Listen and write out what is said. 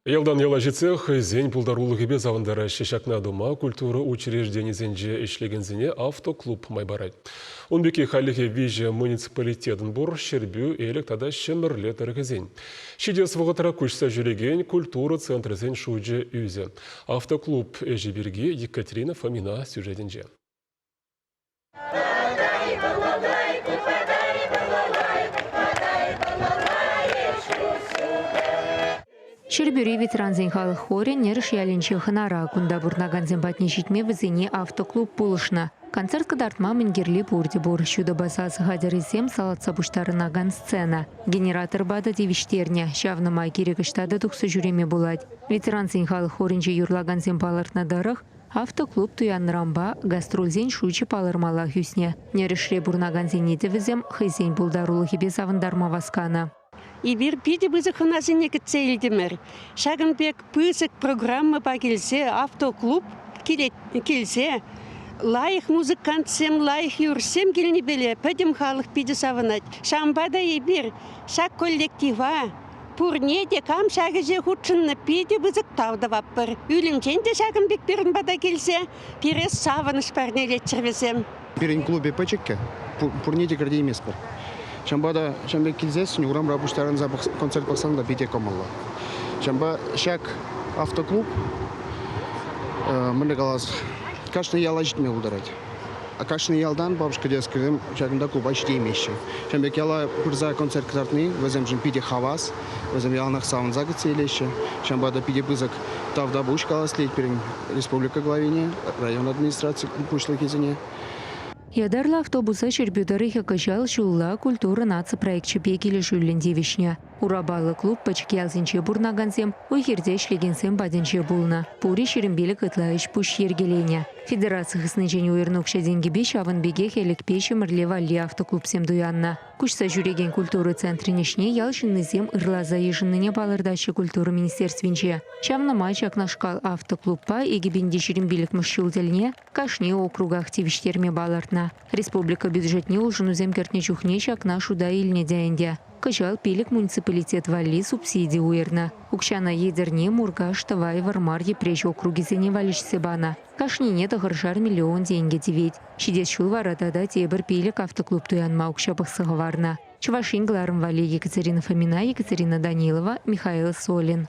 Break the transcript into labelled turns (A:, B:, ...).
A: Ялтан яла ҫитсех хӑйсен пултарулӑхӗпе савӑнтараҫҫӗ. Ҫакна тума культура учрежденийӗсенче ӗҫлекенсене автоклуб май парать. Ун пекки хальлӗхе виҫӗ муниципалитетӑн пур Ҫӗрпӳ, Элӗк тата Ҫӗмӗрле тӑрӑхӗсен. Ҫитес вӑхӑтра куҫса ҫӳрекен культура центрӗсен шучӗ ӳсӗ. Автоклуб ӗҫӗ пирки Екатерина Фомина сюжетӗнче.
B: Ҫӗрпӳри ветерансен халӑх хорӗн Нӗрӗш ялӗнчи хӑнара кунта пурӑнакансем патне ҫитме вӗсене автоклуб пулӑшнӑ. Концерт кӑтартма мӗн кирли пурте пур. Ҫутӑпа сасӑ хатӗрӗсем салатса пуҫтарӑнакан сцена. Генератор ватӑ тивӗҫтернӗ. Ҫавна май кирек ӑҫта та тухса ҫӳреме пулать. Ветерансен халӑх хорӗнче юрлакансем палӑртнӑ тӑрӑх, Автоклуб туяннӑранпа гастрольсен шучӗ палӑрмаллах ӳснӗ. Нӗрӗшре пурӑнакансене те вӗсем хӑйсен пултарулӑхӗпе савӑнтарма васканӑ. Эпир
C: питӗ пысӑк хӑнасене кӗтсе илтӗмӗр. Ҫакӑн пек пысӑк программӑпа килсе автоклуб килсе лайӑх музыкантсем, лайӑх юрӑҫсем килнипеле пӗтӗм халӑх питӗ савӑнать. Ҫавӑнпа та эпир ҫак коллектива Пурне те кам ҫак ӗҫе хутшӑннӑ питӗ пысӑк тав тӑватпӑр. Ӳлӗмчен те ҫакӑн пек пирӗн пата килсе пире савӑнӑҫ парнелетчӗр вӗсем. Пирӗн клубӗ
D: пӗчӗккӗ, пурне те кӗртейместпӗр. Ҫавӑнпа та ҫавӑн пек килсессӗн урамра пуҫтарӑнса концерт пӑхсан та питӗ кӑмӑллӑ. Ҫавӑнпа ҫак автоклуб, мӗнле калас, кашни яла ҫитме пултарать. Кашни ялтан бабушка тес кӗрем ҫакӑнта клуба ҫитеймеҫҫӗ. Ҫавӑн пек яла пырса концерт кӑтартни вӗсемшӗн питӗ хавас. Вӗсем яланах савӑнса кӗтсе илеҫҫӗ. Ҫавӑнпа та питӗ пысӑк тавтапуҫ каласлет пирӗн республика главине, район администраци пуҫлӑхӗсене. Ятарлӑ
B: автобуса Ҫӗрпӳ тӑрӑхӗ кӑҫал ҫулла Культура наци проекчӗпе килӗшӳллӗн тивӗҫнӗ. Урапаллӑ клуб пӗчӗк ялсенче пурӑнакансем, уй-хирте ӗҫлекенсем патӗнче пулнӑ. Пурри ҫирӗм пилӗк ытла ӗҫ-пуҫ йӗркеленӗ. Федераци хыснинчен уйӑрнӑ укҫа-тенкӗпе ҫавӑн пекех Элӗкпе Ҫӗмӗрле валли автоклубсем туяннӑ. Куҫса ҫӳрекен культура центрӗн ӗҫне ял ҫыннисем ырласа йышӑннине палӑртаҫҫӗ культура министерствинче. Ҫавна май ҫакнашкал автоклубпа икӗ пин те ҫирӗм пилӗкмӗш ҫул тӗлне кашни округах тивӗҫтерме палӑртнӑ. Республика бюджетне улшӑнусем кӗртнӗ чухне ҫакна шута илнӗ те ӗнтӗ. Кӑҫал пилӗк муниципалитет валли субсиди уйӑрнӑ. Укҫана Етӗрне, Муркаш, Тӑвай, Вӑрмар, Йӗпреҫ округӗсене валеҫсе панӑ. Кашнине тӑхӑршар миллион тенкӗ тивет. Ҫитес ҫул вара тата тепӗр пилӗк автоклуб туянма укҫа пӑхса хӑварнӑ. Чӑваш Ен кӑларӑм валли Екатерина Фомина, Екатерина Данилова, Михаил Солин.